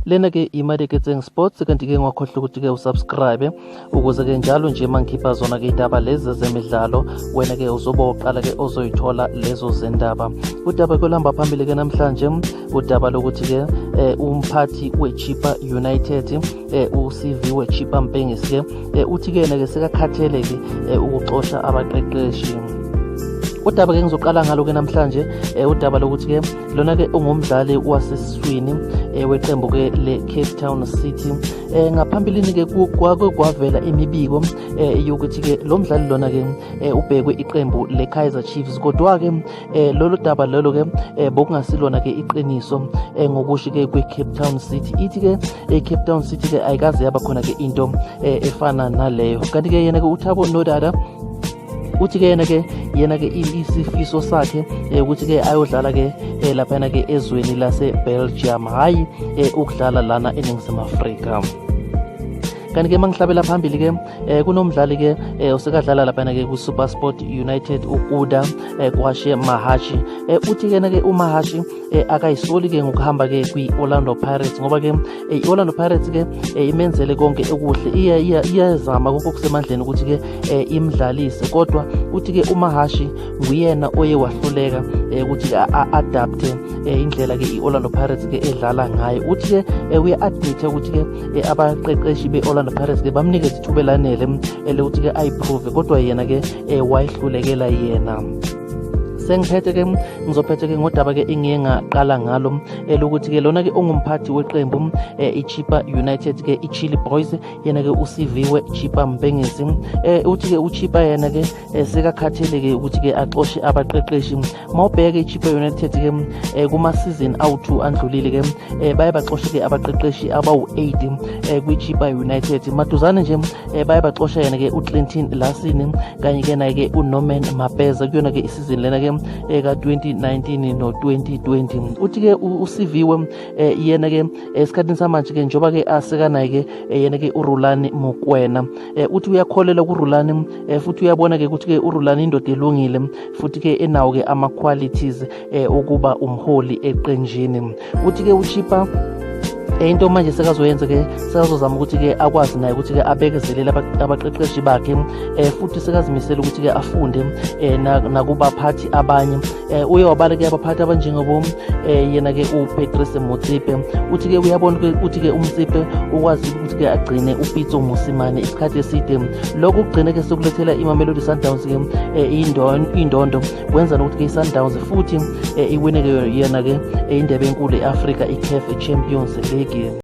lena ke imali eketseng sports kanti ke ngwakhohlwa ukuthi ke usubscribe ukuze ke njalo nje uma ngikhipha zona ke indaba lezi zemidlalo wena ke uzobe uqala ke ozoyithola lezo zendaba udaba kwelihamba phambili ke namhlanje udaba lokuthi ke eh, umphathi wechipa united eh, uCV weChippa Mpengesi ke eh, uthi ke yena ke sekakhathele ke eh, ukuxosha abaqeqeshi udaba ke ngizoqala ngalo ke namhlanje eh, udaba lokuthi ke lona ke ungumdlali wasesiswini eh, weqembu ke le Cape Town City eh, ngaphambilini ke kwake kwavela imibiko eh, yokuthi ke lo mdlali lona ke eh, ubhekwe iqembu le Kaizer Chiefs kodwa ke eh, lolu daba lelo ke eh, bokungasilona ke iqiniso eh, ngokushi ke kwe Cape Town City ithi ke ecape town city ke ayikaze yaba khona ke into eh, efana naleyo kanti ke yena ke uthabo nodada uthi ke yena ke yena ke isifiso sakhe eh, ukuthi ke ayodlala ke eh, laphana ke ezweni lase-belgium hhayi ukudlala lana eningizimu afrika kanti ke mangihlabela phambili ke eh, kunomdlali ke eh, usekadlala laphana ke ku-supersport united ukuda eh, kwashe mahashi eh, uthi kena ke umahashi eh, akayisoli ke ngokuhamba ke kwi-orlando pirates ngoba ke eh, i-orlando pirates ke eh, imenzele konke okuhle iyazama konke okusemandleni ukuthi ke eh, imdlalise kodwa uthi ke umahashi nguyena oye wahluleka eh, ukuthi ke a-adapte eh, indlela ke i-orlando pirates ke edlala ngayo uthi ke eh, uya-admite ukuthi ke eh, abaqeqeshi be-orlando pirates ke bamnike ithuba elanele eh, lokuthi ke ayiprove kodwa yena ke eh, wayihlulekela yena sengiphethe ke ngizophethe ke ngodaba ke engiye ngaqala ngalo elokuthi ke lona ke ungumphathi weqembu eh, iChipa United ke iChili Boys yena ke usiviwe Chipa Mbengezi eh, uthi ke uChipa yena ke eh, sekakhathele ke ukuthi ke axoshe abaqeqeshi mawubheke iChipa United ke kuma season awu2 andlulile ke baye baxoshe ke abaqeqeshi abawu8 kwiChipa United maduzane nje um baye baxosha yena-ke uclinton lasini kanye-ke naye-ke unorman mapeza kuyona-ke isizini lena-ke eka-2019 no-2020 uthi-ke usiviwe um yena-ke esikhathini samanje-ke njengoba-ke asekanaye-ke yena-ke urulani mukwena um uthi uyakholelwa kurulani um futhi uyabona-ke ukuthi-ke urulani indoda elungile futhi-ke enawo-ke ama-qualities eh, ukuba umholi eqenjini uthi ke uchipa eh, into manje sekazoyenza ke sekazozama ukuthi ke akwazi naye ukuthi ke abekezelele abaqeqeshi bakhe eh, futhi sekazimisela ukuthi ke afunde eh, nakubaphathi abanye eh, uye wabala ke abaphathi abanjengobo eh, yena ke uPatrice Motsipe uthi ke uyabona ukuthi ke uMtsipe ukwazi ukuthi ke agcine uPitso Mosimane isikhathi eside lokhu kugcine ke sokulethela iMamelodi Sundowns ke eh, indondo kwenza nokuthi ke i-sundowns futhi eh, iwine ke yena ke eh, indebe enkulu e-afrika i-caf champions league